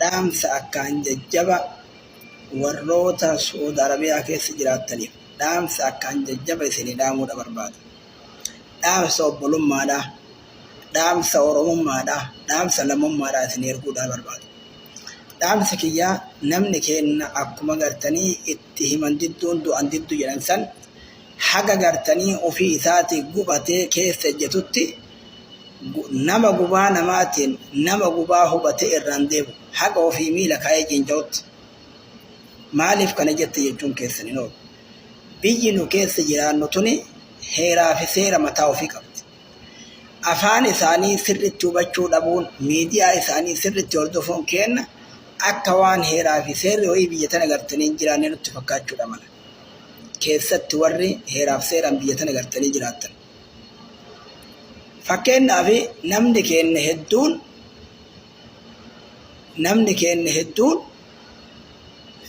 Dhaamsa akkaan jajjaba warroota Su'uud Arabiyaa keessa jiraattaniif dhaamsa akkaan jajjaba isinii dhaamuudha barbaada. Dhaamsa obbolummaadha, dhaamsa Oromummaadha, dhaamsa lammummaadha isinii erguudha barbaada. Dhaamsi kiyya namni keenna akkuma gartanii itti himan didduun du'an diddu jedhan san haga gartanii ofii isaatii gubatee keessa ejjetutti nama gubaa namaatiin nama gubaa hubatee irraan deemu haqa ofii miila kaa'ee ciinca'utti maaliif kana jette jechuun keessan hin oolu. Biyyi nu keessa jiraannu tuni heeraa fi seera mataa ofii qabdi. Afaan isaanii sirriitti hubachuu dhabuun miidiyaa isaanii sirriitti hordofuun keenna akka waan heeraa fi seerri ho'ii biyya tana gartanii hin jiraanne nutti fakkaachuudha mala. Keessatti warri heeraaf seeraan biyya tana gartanii jiraattan. Fakkeenyaaf namni keenya hedduun namni keenya hedduun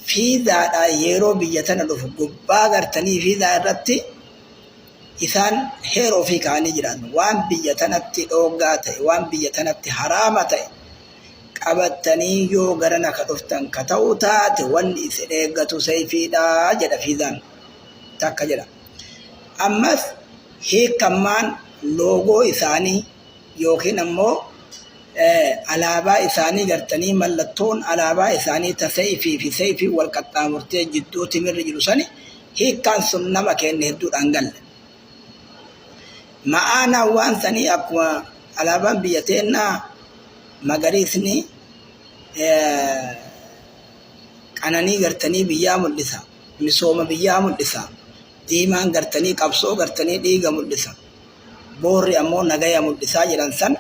fiizaadhaan yeroo biyya tana dhufu gubbaa gartanii fiizaa irratti isaan heeroo fi kaanii jiran waan biyya tanatti dhooggaa ta'e waan biyya tanatti haraama ta'e qabattanii yoo gara naka dhuftan ka ta'u taate wanni isin eeggatu seeyfiidha jedha fiizaan takka jedha. Ammas hiikammaan loogoo isaanii yookiin ammoo alaabaa isaanii gartanii mallattoon alaabaa isaanii ta seeyfii fi seeyfii wal qaxxaamurtee jidduu timirri jiru sani hiikkaan sun nama keenya hedduudhaan galle. Ma'aanaan waan sanii akkuma alaabaan biyya teennaa magariisni qananii gartanii biyyaa mul'isa. misooma biyyaa mul'isa. Diimaan gartanii qabsoo gartanii dhiiga mul'isa. Boorri ammoo nagaya mul'isaa jedhan san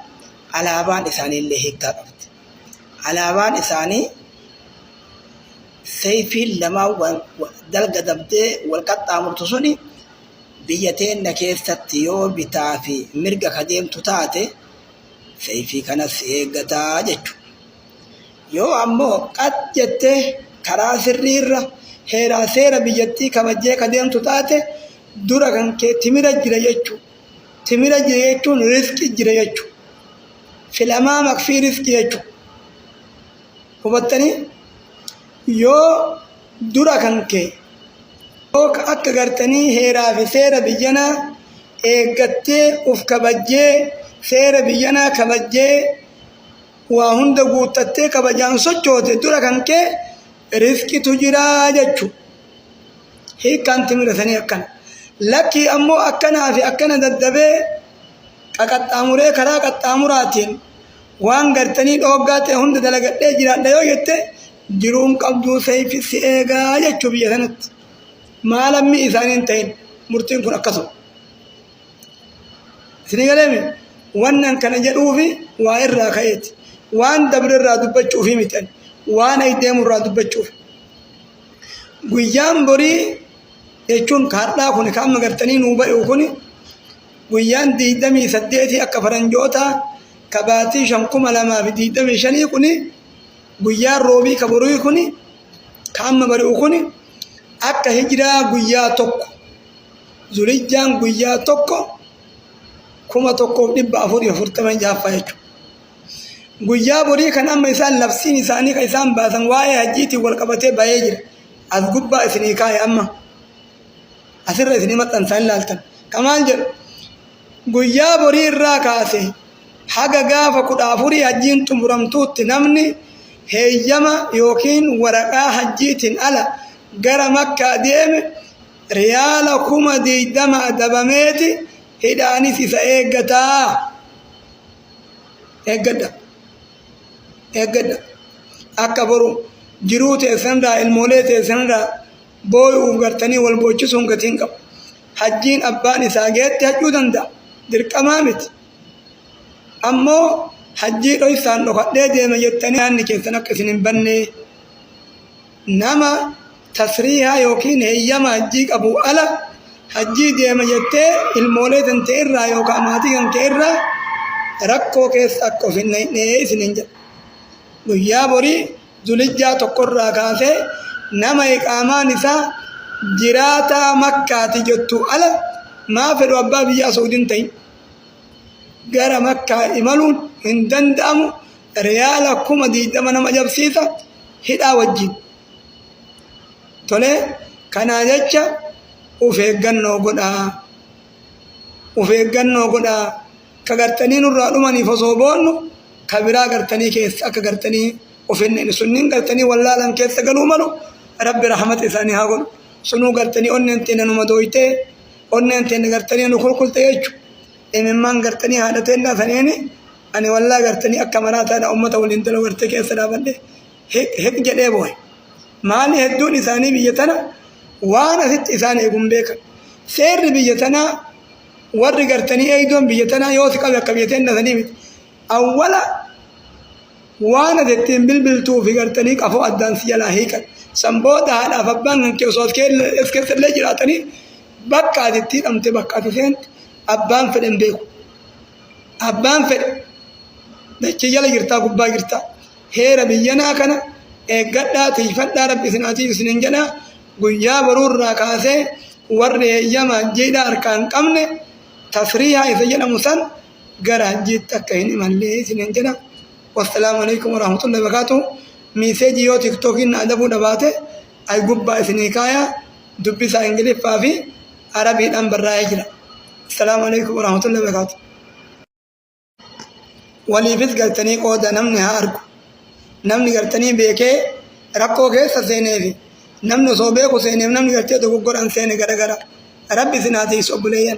alaabaan isaanii illee hiikkaa qabdi. Alaabaan isaanii seeyfiin lamaan wal- wal- dalga dabdee wal qaxxaamurtu suni biyya teenna keessatti yoo bitaa fi mirga ka deemtu taate seeyfii kanas si eeggataa jechuudha. Yoo ammoo qat jettee karaa sirrii irra heeraa seera biyyattii kabajjee ka deemtu taate dura kan kee timira jira jechuu. Timira jira jechuun risqi jira jechuu. Filamaa makfii risqi jechuu. Hubattanii? Yoo dura kan kee yoo ka akka gartanii heeraa fi seera biyyanaa eeggattee uf kabajjee seera biyyanaa kabajjee waa hunda guuttattee kabajaan sochoote dura kan kee rizqitu jira jechu hiikkaan timira sanii akkana lakkii ammoo akkanaa fi akkana daddabee qaqaxxaamuree karaa qaxxaamuraatiin waan gartanii dhooggaa ta'e hunda dalagadhee jiraadha yoo jette jiruun qabduu seeyfi si eegaa jechuu biyya sanatti maalammi isaaniin ta'in murtiin kun akkasuma Isinii galeemi wannan kana jedhuufi waa irraa ka'eeti. Waan dabre irraa dubbachuufi miti ani. Waan ayi deemu irraa dubbachuuf. Guyyaan borii jechuun kaadhaa kun kan amma gartanii nuu ba'u kun guyyaan digdamii saddeetii akka faranjootaa ka baatii shan kuma lamaa fi digdamii shanii kun guyyaan roobii ka borii kun ka amma bari'u kun akka hijiraa guyyaa tokko Zulijjaan guyyaa tokko kuma tokkoof dhibba afurii afurtama jaaffaa jechuudha. Guyyaa borii kan amma isaan labsiin isaanii kan isaan baasan waa'ee hajjiitiin wal qabatee ba'ee jira. As gubbaa isinii kaa'e amma. Asirra isinii maxxansaan ilaaltan. Kan maal jedhu? Guyyaa borii irraa kaase haga gaafa kudha afurii hajjiin xumuramtuutti namni heeyyama yookiin waraqaa hajjiitiin ala gara makkaa deeme riyaala kuma digdama adabameeti hidhaanis isa eeggataa eeggadha eeggadha akka boru jiruu teessanirraa ilmoolee teessanirraa booyuuf gartanii wal boochisuun gatiin qabu hajjiin abbaan isaa geetti hajjuu danda'a dirqamaa miti ammoo hajjii dhoysaan dhokadhee deema jettanii yaanni keessan akka isin hin bannee nama tasriihaa yookiin heeyyama hajjii qabu ala hajjii deema jettee ilmoolee tante irraa yookaan maatii kan kee irraa rakkoo keessa akka of hin naqnee isiniin jedha. Guyyaa borii zulijjaa tokkorraa kaasee nama iqaamaan isaa jiraataa makkaati jettu ala maa fedhu abbaa biyyaa suudin ta'in gara makkaa imaluun hin danda'amu riyaala kuma diidama nama jabsiisa hidhaa wajjin. Tolee, kanaa jecha uf eeggannoo godhaa. Uf eeggannoo godhaa. Ka gartanii nurraa dhumaniif osoo boonnu, ka biraa gartanii keessa akka gartanii uf hin dhayne. Sunniin gartanii wallaalan keessa galuu malu, Rabbi rahmata isaanii haa godhu. Sunuu gartanii onneen teenna nu madooytee, onneen teenna gartanii nu kulkulte jechu. Imimmaan gartanii haadha teennaa saniini. Ani wallaa gartanii akka manaa taana ummata waliin tola warte keessa dhaabadhe hiq jedhee boohe. Maali hedduun isaanii biyya tana waan asitti isaan eegun beekan. Seerri biyya tanaa warri gartanii eeydoon biyya tanaa yoo si qabe akka biyya teenna sanii miti. Awwala waan ati ittiin bilbiltuu fi gartanii qafoo addaan si jalaa hiikan. San booda haadhaaf abbaan kan kee osoo as keessa illee jiraatanii bakka ati itti hidhamte bakka ati seente abbaan fedhe hin beeku. abbaan fedhe dachii jala jirtaa gubbaa jirtaa heera biyyanaa kana eeggadhaa tiifadhaa rabbi isin haa tiisu isinin jedhaa guyyaa boruu irraa kaasee warri heeyyama hajjiidhaa harkaa hin qabne tasriihaa isa jedhamu san gara hajjiitti akka hin imallee isinin jedha wassalaamu alaikum warahmatullahi wabarakatuh miiseejii yoo tiktookiin na adabuu dhabaate ay gubbaa isinii kaayaa dubbisaa Ingiliffaa fi Arabiidhaan barraa'ee jira. Assalaamu alaikum warahmatullahi wabarakaatu. Waliifis gartanii qooda namni haa argu. Namni gartanii beekee rakkoo keessa seenee fi namni osoo beeku seeneef namni gartee dogoggoraan seene garagara. Rabbi isin haa tiisu obboleeyyan.